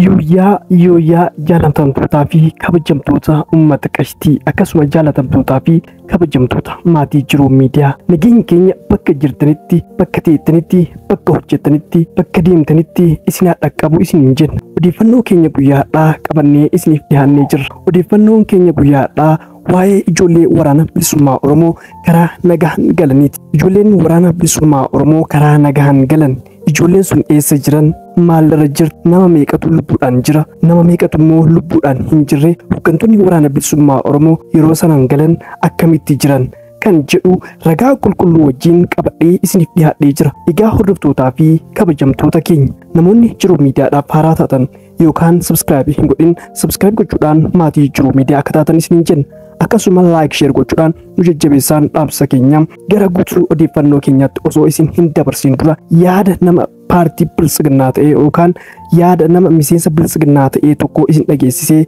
Yooyyaa yooyyaa jaallatamtootaa fi kabajamtoota uummata qashtii akkasuma jaallatamtootaa fi kabajamtoota maatii jiruu miidiyaa nageenyi keenya bakka jirtanitti bakka teettanitti bakka hojjettanitti bakka deemtanitti isin haa dhaqqabu isiniin jenna odeeffannoo keenya guyyaadhaa qabannee isiniif dhiyaannee jirra odeeffannoon keenya guyyaadhaa waa'ee ijoollee waraana bilisummaa Oromoo karaa nagahan galaniiti. Ijoolleen waraana bilisummaa Oromoo karaa nagahan galan Ijoolleen sun eessa jiran? Maalirra jirti? Nama meeqatu lubbuudhaan jira? Nama meeqatu immoo lubbuudhaan hin jirre? Hooggantoonni waraana bilisummaa Oromoo yeroo sanaan galan akkamitti jiran? kan jedhu ragaa qulqulluu wajjin qabadhee isiniif dhiyaadhee jira. Egaa hordoftootaa fi kabajamtoota keenya namoonni jiruu miidiyaadhaaf haaraa taatan yookaan subscribe hin godhin subscribe gochuudhaan maatii jijjiiruu miidiyaa akka taatan isiniin jenna akkasuma like share gochuudhaan nu jajjabeessaan dhaamsa keenya gara guutuu odeeffannoo keenyaatti osoo isin hin dabarsin dura yaada nama paartii biltsiginnaa ta'e yookaan yaada nama miseensa biltsiginnaa ta'e tokko isin dhageessisee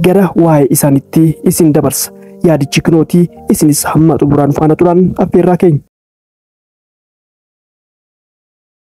gara waa'ee isaanitti isin dabarsa yaadichi kinootii isinis hamma xumuraan faana turaan affeerraa keenya.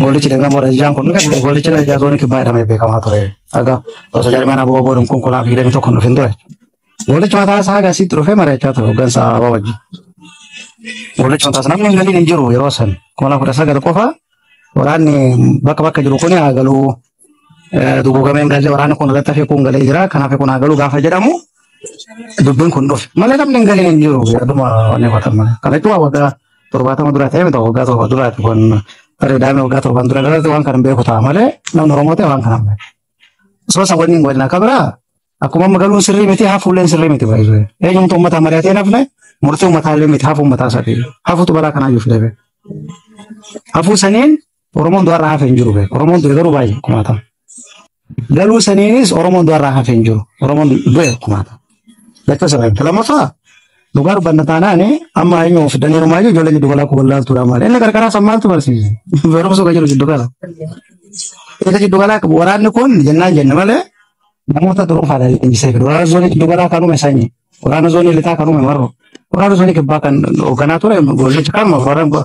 Goolichi dirqama Rajjaan kun goolichi Rajjaa zoonii kibbaa jedhamee beekamaa ture. Akka osoo jarmaan aboo boodum kun kulaa fi hidhamii tokko dhufin ture. Goolichi mataa isaa haga asitti dhufee mari'achaa ture hooggansa aboo wajjin. Goolichi mataa isaa namni hin galiin hin jiru yeroo san kuma lama kudha sagal qofa waraanni bakka bakka jiru kun haa galuu dugugameen galee waraana kun irratti hafee kun galee jira kanaaf kun haa galu gaafa jedhamu dubbiin kun dhufe malee namni hin galee hin jiru yaaduma wanni godhama kana jechuun waggaa torbaatama dura ta'e miti waggaa torba duraati kun bareedaame waggaa torban dura dhalate waan kana hin beeku ta'a malee namni Oromoo ta'e waan kana hin beeku. Osoo isa waliin waliin akka biraa akkuma amma galuun sirrii miti hafuulleen sirrii miti baay'ee eenyumtu uummataa mari'atee hin hafne murtii uummataa illee miti hafuu uummataa sadii hafuutu balaa kanaa iyyuu fidame. Hafuu saniin Oromoon du'arraa hafe hin jiru. Oromoon du'e garuu baay'ee kumaatama. Galuu saniinis Oromoon du'arraa hafe hin jiru. Oromoon du'e kumaatama. Jecha sana lammaffaa dhugaa dubbanna taanaan amma hayyuu of danee homaa jiru ijoolleen jiddu galaa kun wallaaltuudha maali. Inni qarqaraa san maaltu barsiise? Barumsa kan jiru jiddu gala. Isa jiddu galaa waraanni kun jennaan jenna malee namoota dhuunfaadhaan leenjisee fidu. Waraana zoonii jiddu galaa kan uume sanyi. Waraana zoonii lixaa kan uume marro. Waraana zoonii kibbaa kan hoogganaa ture goollicha kan waraana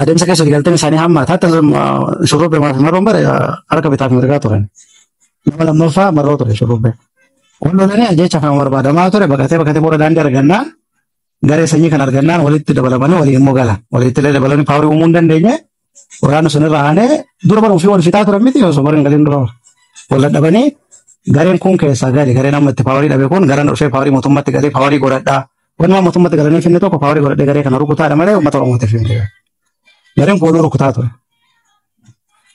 Adeemsa keessatti galteen isaanii hammaata. Hatta shurrubbee maafi marroon bare harka bitaa fi mirgaa turan. Nama lammaffaa marroo ture shurrubbee. Wal lolanii jecha kan barbaadamaa ture baqatee baqatee booda daandii argannaa garee sanyii kan argannaan walitti dabalamanii walii immoo gala. Walitti illee dabalanii paawarii uumuu hin dandeenye. Waraana sun irra aanee dura bara ofii wal fixaa turan miti osoo bara hin galin dura wal dadhabanii gareen kun keessaa gale gareen amma itti paawarii dhabe kun garaan dhufee paawarii mootummaatti galee paawarii godhadhaa Wanuma mootummaatti galanii finni tokko paawarii godhadhee garee kana rukutaadha malee uummata Oromootiif hin jiru. Gareen kooluu rukutaa ture.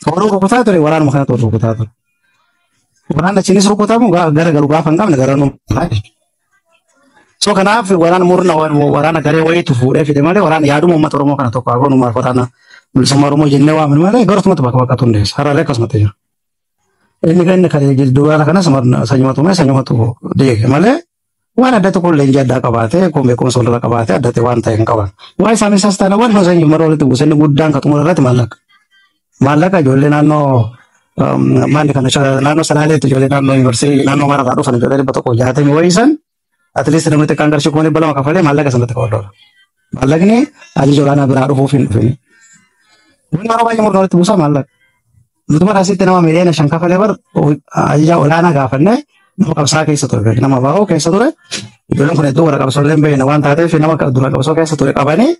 Kooluu rukutaa ture waraanuma kana ture rukutaa ture. Waraanni achiinis rukutamu gaa- gara galu gaafa hin qabne gara nuummaa. So kanaaf waraana murna waraana garee wayiitu fuudhee fide malee waraana yaaduma uummata Oromoo kana tokko hagoon uummata waraana bilisummaa Oromoo jennee waamne malee gara tokkumatti bakka bakkatu hundeessa. Hararee akkasumatti jira. Inni kan inni kan duraara kanas sanyumatume sanyumatu deege malee Waan adda tokko illee ija addaa qabaatee kun beekumsa walirra qabaatee adda ta'e waan ta'e hin qaban. Waan isaan isaas taana waan gosa hin mara walitti buusanni guddaan kan xumura irratti maallaqa. Maallaqa ijoollee naannoo um, maanni kana sha- naannoo salaaleetti ijoollee naannoo yuunivarsiitii naannoo mara irraa dhufan ijoollee dhibba tokko jaatamii wayii san atleast namni xiqqaan qarshii kuma dhibba lama kafalee maallaqa sanatti kafaluudha. Maallaqni ajaja olaanaa biraa dhufuuf hin dhufin. Wanni yeroo baay'ee murna walitti buusaa maallaqa. Nuti bara asitti nama miliyoona shan kafalee bar ajajaa olaanaa gaafannee nama qabsaa keessa ture beeku. Nama baa'oo keessa ture. Ijoolleen kun hedduu warra qabsoolee hin beekne waan taateef nama dura qabsoo keessa ture qabanii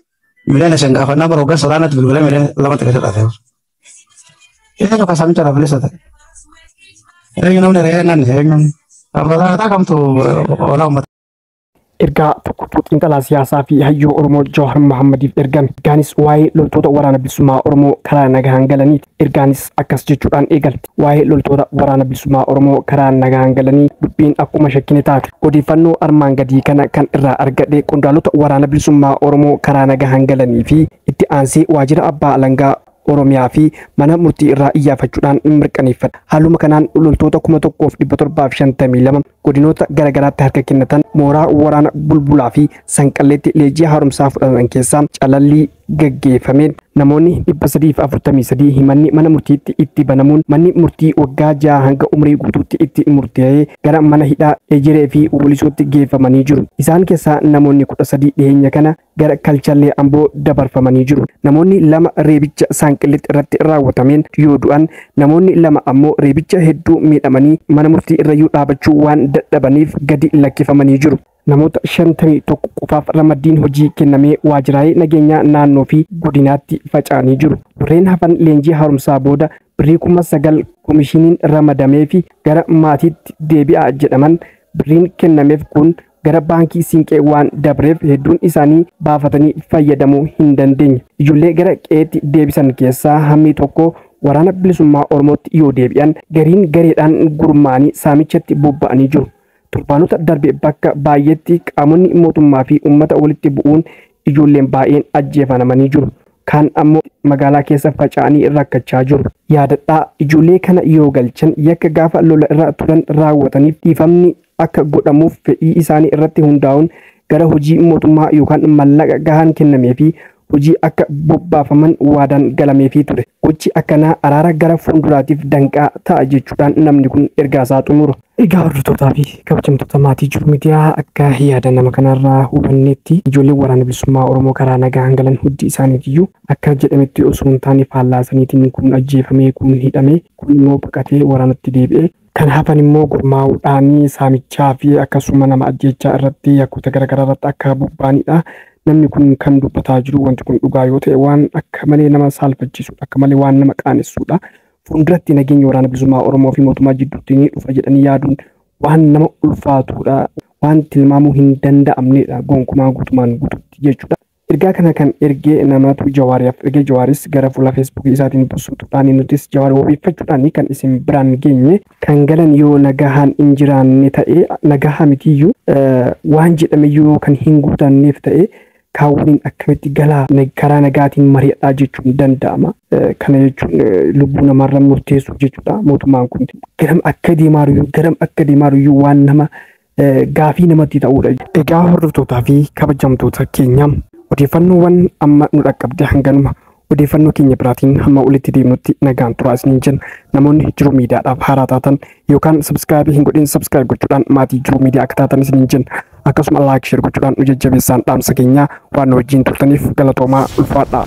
miliyoona shan gaafannaa bara hoggansa olaanaatti bilbilee miliyoona lamatti gadi dhate. Eenyu kan samicha irraa bilisa ta'e? Eenyu namni re'ee nanni? Eenyu namni? Abbootaa kamtu olaa uummata? Ergaa tokkotu xiinxalaa siyaasaa fi hayyuu Oromoo Jawaar Mahaammadiif ergame. Ergaanis waa'ee loltoota waraana bilisummaa Oromoo karaa nagahaan galaniiti. Ergaanis akkas jechuudhaan eegalti. Waa'ee loltoota waraana bilisummaa Oromoo karaa nagahaan galanii dubbiin akkuma shakkine taate. Odeeffannoo armaan gadii kana kan irraa argadhe qondaalota waraana bilisummaa Oromoo karaa nagahaan galanii fi itti aansee waajjira abbaa alangaa Oromiyaa fi mana murtii irraa iyyaafachuudhaan mirkaneeffadha. Haaluma kanaan loltoota 1752 godinoota garagaraatti harka kennatan mooraa waraana bulbulaa fi sanqalleetti leenjii haaromsaa fudhatan keessaa calallii gaggeeffameen namoonni 343 himanni mana murtiitti itti banamuun manni murtii waggaa ja'a hanga umrii guutuutti itti murtee'ee gara mana hidhaa ejeree fi walisootti geeffamanii jiru. Isaan keessaa namoonni 13 dhiheenya kana gara kalchallee amboo dabarfamanii jiru. Namoonni lama reebicha saanqillitti irratti raawwatameen yoo du'an namoonni lama ammoo reebicha hedduu miidhamanii mana murtii irrayyuu dhaabachuu waan dadhabaniif gadi lakkifamanii jiru. Namoota 51 qofaaf ramaddiin hojii kennamee waajjiraalee nageenyaa naannoo fi godinaatti faca'anii jiru. Warreen hafan leenjii haaromsaa booda birrii kuma sagal komishiniin ramadamee fi gara maatiitti deebi'aa jedhaman birriin kennameef kun gara baankii siinqee waan dabreef hedduun isaanii baafatanii fayyadamuu hin dandeenye. Ijoollee gara qe'eetti deebisan keessaa hammii tokko waraana bilisummaa Oromootti yoo deebi'an gariin gareedhaan gurmaa'anii saamichatti bobba'anii jiru. Torbaanota darbe bakka baay'eetti qaamonni mootummaa fi uummata walitti bu'uun ijoolleen baay'een ajjeefanamanii jiru. Kaan ammoo magaalaa keessa faca'anii rakkachaa jiru. Yaadadhaa, ijoollee kana yoo galchan yakka gaafa lola irra turan raawwataniif dhiifamni akka godhamuuf fedhii isaanii irratti hundaa'uun gara hojii mootummaa yookaan mallaqa gahaan kennameefii hojii akka bobbaafaman waadaan galameefii ture. Gochi akkanaa araara gara fuulduraatiif danqaa ta'a jechuudhaan namni kun ergaasaa xumura. Egaa hordoftoota fi kabajamtoota maatii jiru miidiyaa akka yaada nama kanarraa hubanneetti ijoolleen waraana bilisummaa Oromoo karaa nagaan galan hundi isaaniitiyyuu akka jedhametti osoo hin taane faallaa saniitiin kuun ajjeefamee, kuun hidhamee, kuun immoo baqatee waraanatti deebi'ee Kan hafan immoo gurmaa'uudhaan saamichaa fi akkasuma nama ajjeechaa irratti yakkoota garaagaraa irratti akka bobba'anidha. Namni kun kan dubbataa jiru wanti kun dhugaa yoo ta'e waan akka malee nama saalfachiisudha. Akka malee waan nama qaanessudha. Fuulduratti nageenya waraana bilisummaa Oromoo fi mootummaa jidduutti ni dhufa jedhanii yaaduun waan nama ulfaatudha. Waan tilmaamuu hin danda'amnedha gonkumaa guutumaan guututti jechuudha. Ergaa kana kan erge namaatu Jawaariyaaf erge Jawaaris gara fuula Facebook isaatiin busuutuudhaan nutis Jawaar wabeeffachuudhaan kan isin biraan geenye. Kan galan yoo nagahaan hin jiraanne ta'e nagahaa mitiyyuu waan jedhameyyuu yoo kan hin guutanneef ta'e kaan waliin akkamitti galaa karaa nagaatiin mari'adhaa jechuun danda'ama. Kana jechuun lubbuu namaarra murteessuu jechuudha mootummaan kun. Garam akka deemaaruyyuu garam akka deemaaruyyuu waan nama gaafii namatti ta'uudha. Egaa hordoftootaa fi kabajamtoota keenya odeeffannoowwan amma nu dhaqqabde hanganuma odeeffannoo keenya biraatiin hamma walitti deemnutti nagaan turaa isiniin jenna. Namoonni jiruu miidiyaadhaaf haaraa taatan yookaan sabskraayibii hin godhin sabskraayib gochuudhaan maatii jiruu miidiyaa akka taatan isiniin jenna. Akkasuma laayik sheer gochuudhaan nu jajjabeessaan dhaamsa keenya waan nu wajjin turtaniif galatoomaa ulfaadhaa.